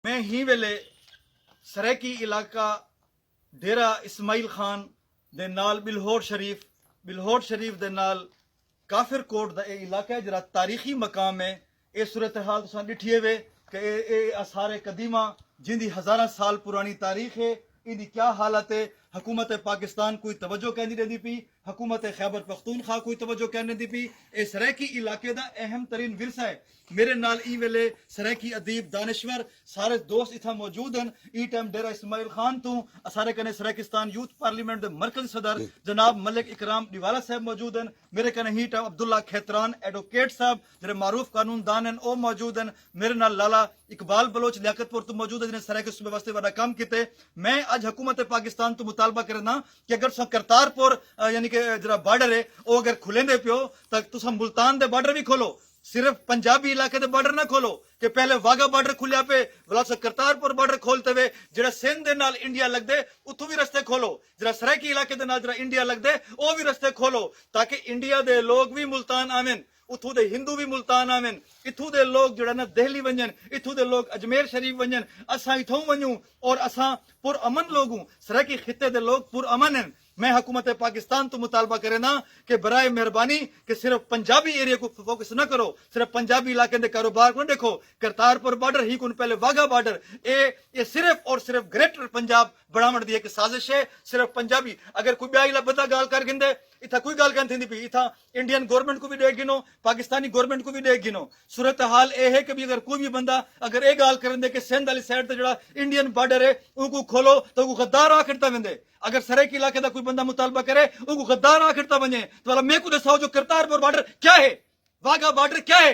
میں ہی ویلے سرائیکی علاقہ ڈیرہ اسماعیل خان دے نال بلہوڑ شریف بلہوڑ شریف دے نال کافر کوٹ دا اے علاقہ ہے جیرا تاریخی مقام ہے اے صورتحال تساں ڈٹھیے وے کہ اے اے آثار قدیمہ جیں دی ہزاراں سال پرانی تاریخ ہے ایندی کیا حالت ہے حکومت پاکستان کوئی توجہ کیندی ڈیندی پی حکومت خیبرپختونخوا کوں توجہ کینی دی پی اے سرائیکی علاقے دا اہم ترین ورثہ اے میرے نال ایں ویلے سرائیکی ادیب دانشور سارے دوست اتھاں موجود ہن ایں ٹائم ڈیرہ اسماعیل خان توں اسارے کنے سرائیکستان یوتھ پارلیمنٹ دے مرکزی صدر جناب ملک اکرام ڈیوالہ صاحب موجود ہن میرے کنے ہیں ٹائم عبداللہ کھیتران ایڈوکیٹ صاحب جیرے معروف قانون دان ہن او موجود ہن میرے نال لالا اقبال بلوچ لیاقت پور توں موجود ہن جنہیں سرائیکی صوبے واسطے وڈا کم کیتے میں اج حکومت پاکستان توں مطالبہ کرینداں کہ اگر تساں کرتار پور یعنی کہ جڑا بارڈر ہے او اگر کھلیندے پیو تاں تساں ملتان دے بارڈر وی کھولو صرف پنجابی علاقے دے بارڈر نہ کھولو کہ پہلے واگھا بارڈر کھلیا پئے ولا تساں کرتار پور بارڈر کھول تے وے جڑا سندھ دے نال انڈیا لگدے اتھوں وی رستے کھولو جڑا سرائیکی علاقے دے نال جڑا انڈیا لگدے او وی رستے کھولو تاکہ انڈیا دے لوگ وی ملتان آون اتھوں دے ہندو وی ملتان آون، اتھوں دے لوک جیڑھا نہ دہلی ونجن، اتھوں دے لوک اجمیر شریف ونجن، اساں اتھاؤں ونجوں اور اساں پر امن لوگ ہوں، سرائیکی خطے دے لوگ پر امن ہن، میں حکومت پاکستان توں مطالبہ کرینداں کہ برائے مہربانی کہ صرف پنجابی ایریے کوں فوکس نہ کرو، صرف پنجابی علاقیں دے کاروبار کوں نہ ڈیکھو، کرتارپور بارڈر ہی کون پہلے واگھا بارڈر اے، اے صرف اور صرف گریٹر پنجاب بنڑاونڑ دی ہک سازش اے، صرف پنجابی اگر کوئی بیا علا بندہ گالھ کر گھندے، اتھاں کوئی گالھ کائن تھیندی پئی، اتھاں انڈین گورنمنٹ کوں وی ڈیکھ گھنو، پاکستانی گورنمنٹ کوں وی ڈیکھ گھنو۔ صورتحال اے ہے کہ بھئی اگر کوئی وی بندہ اگر اے گالھ کریندے کہ سندھ آلی سائیڈ تے جیڑھا انڈین بارڈر اے اونکوں کھولو تاں اونکوں غدار آکھ ڈتا ویندے۔ اگر سرائیکی علاقے دا کوئی بندہ مطالبہ کرے اونکوں غدار آکھ ڈتا ونجے تاں بھلا میکوں ڈساؤ جو کرتارپور بارڈر کیا ہے؟ واگھا بارڈر کیا ہے؟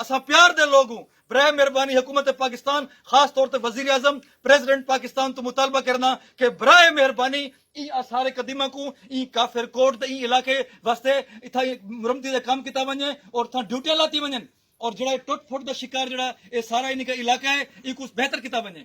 اساں پیار دے لوگ ہوں، برائے مہربانی حکومت پاکستان خاص طور تے وزیراعظم پریذیڈنٹ پاکستان توں مطالبہ کرنا کہ برائے مہربانی ایں آثار قدیمہ کوں ایں کافر کوٹ دے ایں علاقے واسطے اتھاں مرمتی دا کم کیتا ونجے اور اتھاں ڈیوٹیاں لاتی ونجن اور جیڑھا اے ٹٹ پھٹ دا شکار جیڑھا اے سارا اینی کا علاقہ اے اینکوں بہتر کیتا ونجے۔